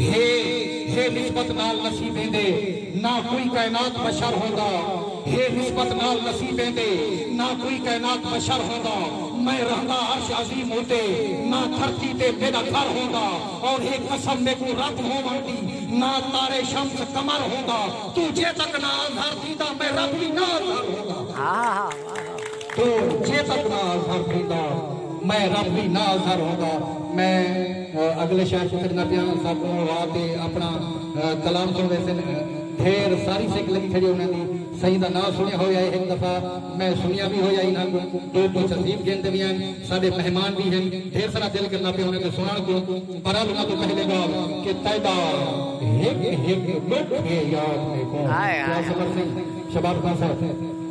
ہے ہے نسبت نال نصیبیں دے نہ کوئی کائنات بشر ہوندا ہے نسبت نال نصیبیں دے نہ کوئی کائنات بشر ہوندا میں رہندا عرش عظیم اتے نہ دھرتی تے میݙا گھر ہوندا اور ہے قسم میکوں رب ہووݨ دی نہ تارے شمس قمر ہوندا توں جے تک نہ اندھر تھیندا میں رب وی نہ اندھر ہوندا۔ تو چیتک نال سر تھیندا میں رب دی نال سر ہوندا میں اگلے شعر کوں سٹدا پیاں سب کوں اڑا تے اپنا کلام سن ویسن ڈھیر ساری سک لگی کھڑی انہاں دی سائیں دا نام سنیا ہویا ہے ایک دفعہ میں سنیا بھی ہویا انہاں کو دو کو تہذیب گھن دے بھی ہیں سارے مہمان بھی ہیں ڈھیر سارا دل کرنا پیا انہاں دے سنن کو برال انہاں تو پہلے گال کہ تیدا ہک ہک لوک ہے یاد میں کو کیا خبر نہیں شباب خان صاحب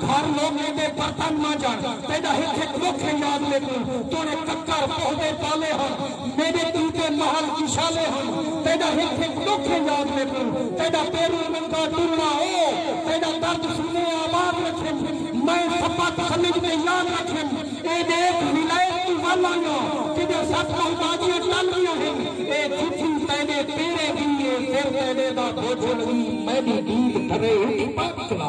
گھر لوکیں دے برتن مانجن تیڈا ہک ہک ڈکھ ہے یاد میکوں توڑے ککر پوہدے پالے ہن میڈے توں تے محل کشالے ہن تیڈا ہک ہک ڈکھ ہے یاد میکوں تیڈا پیروں ننگا ٹرنا او تیڈا درد سنے آباد رکھیم میں سپت سمجھ تے یاد رکھیم اے ڈیکھ ولایت توں ول آیاں کڈے سٹ محتاجیاں ٹل گیاں ہن اے جتھی تیڈے پیرے دی اے سر تیڈے دا بوجھل وی میڈی دید بھرے اٹھ پاک چلا۔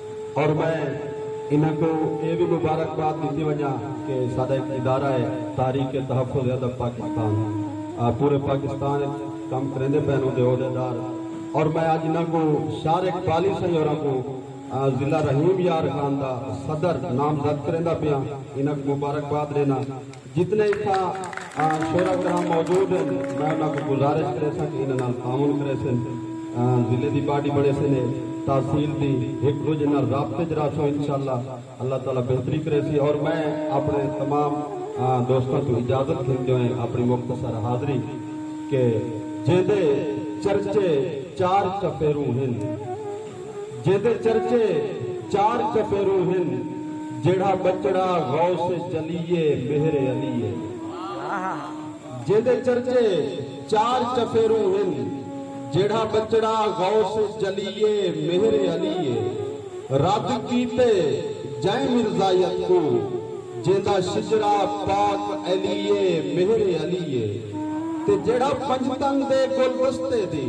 اور میں انہاں کوں اے وی مبارکباد ڈتی ونجاں کہ ساڈا ہک ادارہ ہے تحریک تحفظ ادب پاکستان پورے پاکستان اچ کم کریندے پئن اوندے عہدیدار اور میں اج انہاں کوں شار اقبالی سئیں ہوراں کوں ضلع رحیم یار خان دا صدر نامزد کریندا پیاں انہاں کوں مبارکباد ڈینا۔ جتنے اتھاں شعرا کرام موجود ہیں میں انہاں کو گزارش کرے سا کہ انہاں نال تعاون کرے سن ضلع دی باڈی بنے سن تحصیل دی ایک دوجے نال رابطے چ رہسوں انشاءاللہ اللہ تعالی بہتری کرے سی اور میں اپنے تمام دوستاں کو اجازت گھن جو ہیں اپنی مختصر حاضری کہ جیندے چرچے چار چفیروں ہیں جیندے چرچے چار چفیروں ہن جیڑھا ٻچڑا غوث جلی اے مہر علی اے جیندے چرچے چار چفیروں ہن جیڑھا ٻچڑا غوث جلی اے مہر علی اے رد کیتے جئیں مرزائیت کوں جیندا شجرہ پاک علی اے مہر علی اے تے جیڑھا پنجتن دے گلدستے دی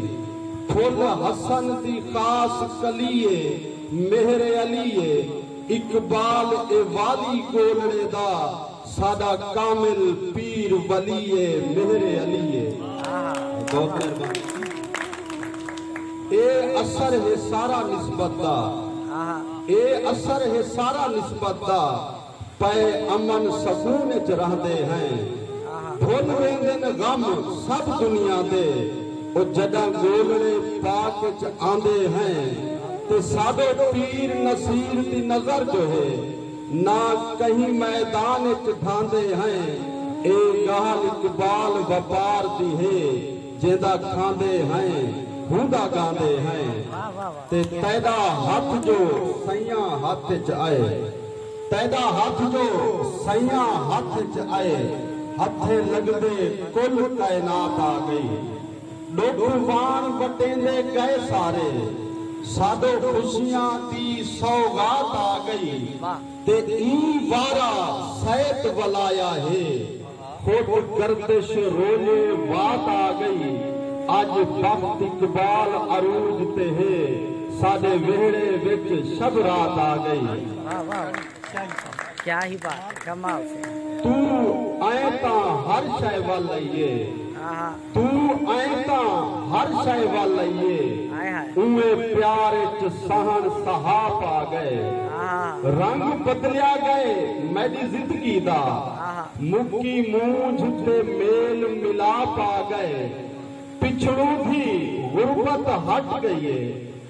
پھل حسن دی خاص کلی اے مہر علی اے اقبال اے والی ڳولڑے دا ساݙا کامل پیر ولی اے مہر علی اے بہت مہربانی اے اثر ہے سارا نسبت دا اے اثر ہے سارا نسبت دا۔ پئے امن سکون اچ رہندے ہیں بھل ویندن غم سب دنیا دے او جڈاں گولڑے پاک اچ آندے ہیں تے ساڈو پیر نصیر دی نظر جو ہے نہ کہیں میدان اچ ڈھاندے ہیں اے گالھ اقبال وپار دی ہے جیندا کھاندے ہیں ہوندا گاندے ہیں تے تیڈا ہتھ جو سئیاں ہتھ اچ آئے۔ تیݙا ہتھ جو سئیاں ہتھ اچ آئے ہتھیں لڳدے کل کائنات آ ڳئی ݙکھ واݨ وٹیندے ڳئے سارے ساݙو خوشیاں دی سوغات آ ڳئی تے ایں وارا سیت ولایا ہے۔ کجھ گردش روزے وات آ گئی اج بخت اقبال عروج تے ہے ساڈے ویہڑے وچ شب رات آ گئی۔ توں ایں تاں ہر شے ول ائیے۔ توں ایں تاں ہر شئے ول ائیے اونویں پیار اچ سہݨ سہا پا ڳئے رنگ بدلیا ڳئے میݙی زندگی دا مکی مونجھ تے میل ملا پا ڳئے پچھڑوں دی غربت ہٹ ڳئی اے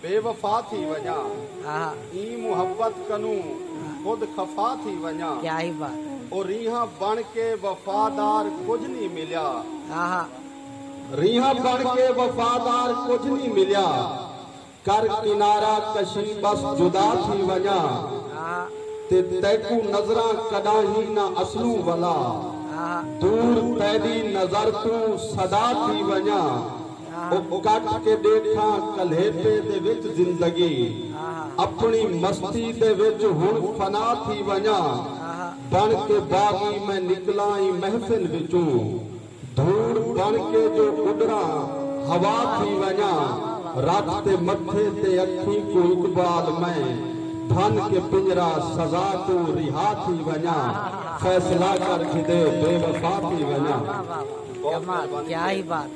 بے وفا تھی ونڄاں ایں محبت کنوں خود خفا تھی ونڄاں او ریہاں بݨ کے وفادار کجھ نی ملیا ریہاں بݨ کے وفادار کجھ نی ملیا کر کنارہ کشی ٻس جدا تھی ونڄاں تے تیکوں نظراں کݙاہیں نہ اصلوں ولا دور تیݙی نظر توں صدا تھی ونڄاں۔ او کٹ کے ڈیکھاں کلیپے دے وچ زندگی اپنی مستی دے وچ ہن فنا تھی ونجاں بن کے باغی میں نکلاں ایں محفل وچوں دھوڑ بن کے جو اڈراں ہوا تھی ونجاں رکھ تے متھے تے اکھیں کوں اقبال میں بھن کے پنجرہ سزا توں رہا تھی ونجاں فیصلہ کر گھدے بے وفا تھی ونجاں۔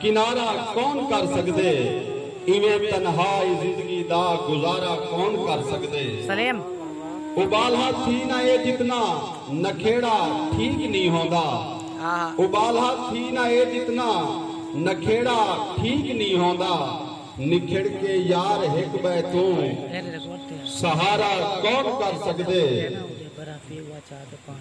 کنارہ کون کر سگدے ایویں تنہا ای زندگی دا گزارہ کون کر سگدے سلیم۔ ابالہ تھی نہ اے جتنا نکھیڑا ٹھیک نی ہوندا ابالہ تھی نہ اے جتنا نکھیڑا ٹھیک نی ہوندا نکھڑ کے یار ہک بئے توں سہارہ کون کر سگدے۔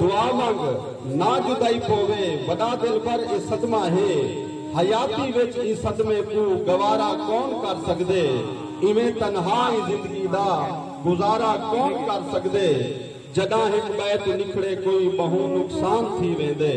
دعا منگ نہ جدائی پووے وڈا دلبر اے صدمہ ہے حیاتی وچ ایں صدمے کوں گوارا کون کر سگدے ایویں تنہا ایں زندگی دا گزارا کون کر سگدے جڈاں ہک بئے توں نکھڑے کوئی بہوں نقصان تھی ویندے۔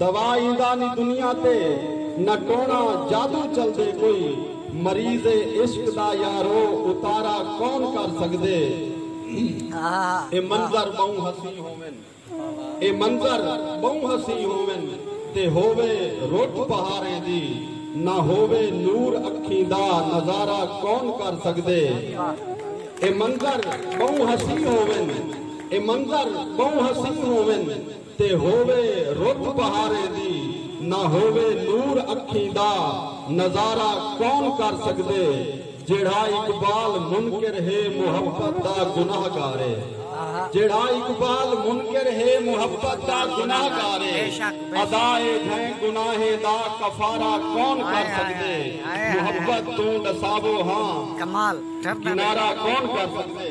دوا ایندا نی دنیا تے نہ ٹونا جادو چلدے کوئی مریض عشق دا یارو اتارا کون کر سکدے اے منظر بہوں حسین ہوون اے منظر بہوں حسین ہوون تے ہووے روٹ بہاریں دی نہ ہووے نور اکھیں دا نظارہ کون کر سکدے اے منظر بہوں حسین ہوون اے منظر بہوں حسین ہوون تے ہووے رت بہاریں دی نہ ہووے نور اکھیں دا نظارہ کون کر سگدے جیڑھا اقبال منکر ہے محبت دا گناہ گارے جیڑھا اقبال منکر ہے محبت دا گناہ گارے ادا اے گھیں گناہیں دا کفارہ کون کر سگدے محبت توں ڈساوو ہاں کنارہ کون کر سگدے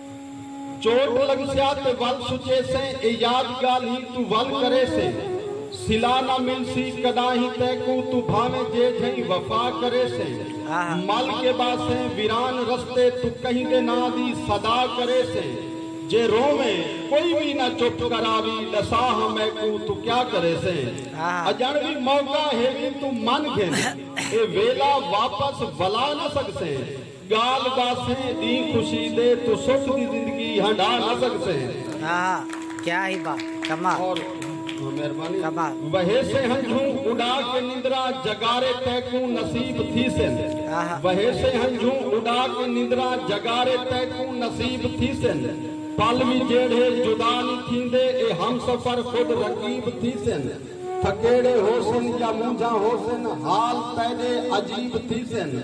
چوٹ لگسیا تے ول سچیسیں اے یاد گالھیں توں ول کریسے صلہ نہ ملسی کڈاہیں تیکوں توں بھانویں جے جھئیں وفا کریسے مل کے باسیں ویران رستے توں کہیں دے ناں دی صدا کریسے جے روویں کوئی وی نہ چپ کراوی ڈسا ہاں میکوں توں کیا کریسیں اجنڑ وی موقع ہیویں توں من گھن اے ویلا واپس ولا نہ سگسیں۔ گالھ داسے دی خوشی دے تو سکھ دی زندگی ہنڈا نہ سکسے۔ آہا کیا ہی بات کمال اور مہربانی کمال وہیسے ہنجھوں اڈا کے نندرا جگارے تیکوں نصیب تھیسن آہا وہیسے ہنجھوں اڈا کے نندرا جگارے تیکوں نصیب تھیسن پل وی جیڑھے جدا نی تھیندے اے ہم سفر خود رقیب تھیسن تھکیڑے ہوسن یا مونجھاں ہوسن حال تیڈے عجیب تھیسن۔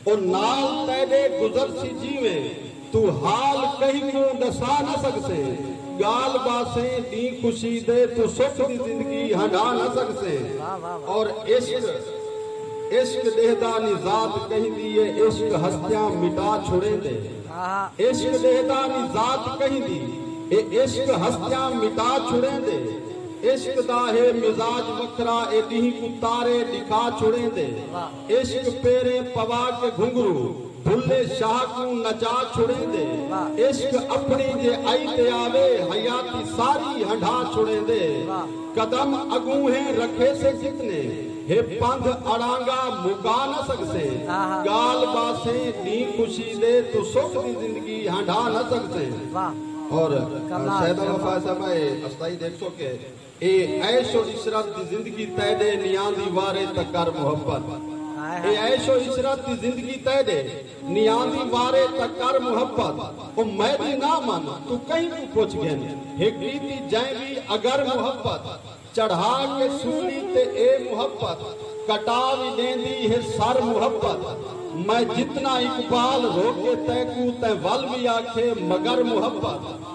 او نال تیݙے گزرسی جیویں توں حال کہیں کوں ݙسا نہ سڳسیں ڳالھ ٻاسیں ݙینہہ خوشی دے توں سکھ دی زندگی ہنڈھا نہ سڳسیں اور عشق عشق ݙیہدا نی ذات کہیندی اے عشق ہستیاں مٹا چھوڑیندے عشق ݙیہدا نی ذات کہیندی اے عشق ہستیاں مٹا چھوڑیندے عشق دا ہے مزاج وکھرا اے ݙینہہ کوں تارے ݙکھا چھوڑیندے۔ عشق پیریں پوا کے گھنگھرو بھلے شاہ کوں نچا چھڑیندے عشق اپنڑیں جے ائی تے آوے حیاتی ساری ہنڈھا چھڑیندے قدم اگوں ہیں رکھیسے جتنے ہے پندھ اڑانگا مکا نہ سگسیں گال باسیں ڈینہہ خوشی دے توں سکھ دی زندگی ہنڈھا نہ سگسیں اور سیدہ وفا صاحبہ اے استائی دیکھ سو کے اے عیش و عشرت دی زندگی تیڈے نیاندی وارے تاں کر محبت اے عیش و عشرت دی زندگی تیڈے نیاندی وارے تاں کر محبت او میڈی نہ من توں کہیں کوں پچھ گھن ہک کیتی جئیں وی اگر محبت چڑھا کے سولی تے اے محبت کٹا وی ڈیندی ہے سر محبت میں جتنا اقبال روکے تیکوں تیں ول وی آکھے مگر محبت۔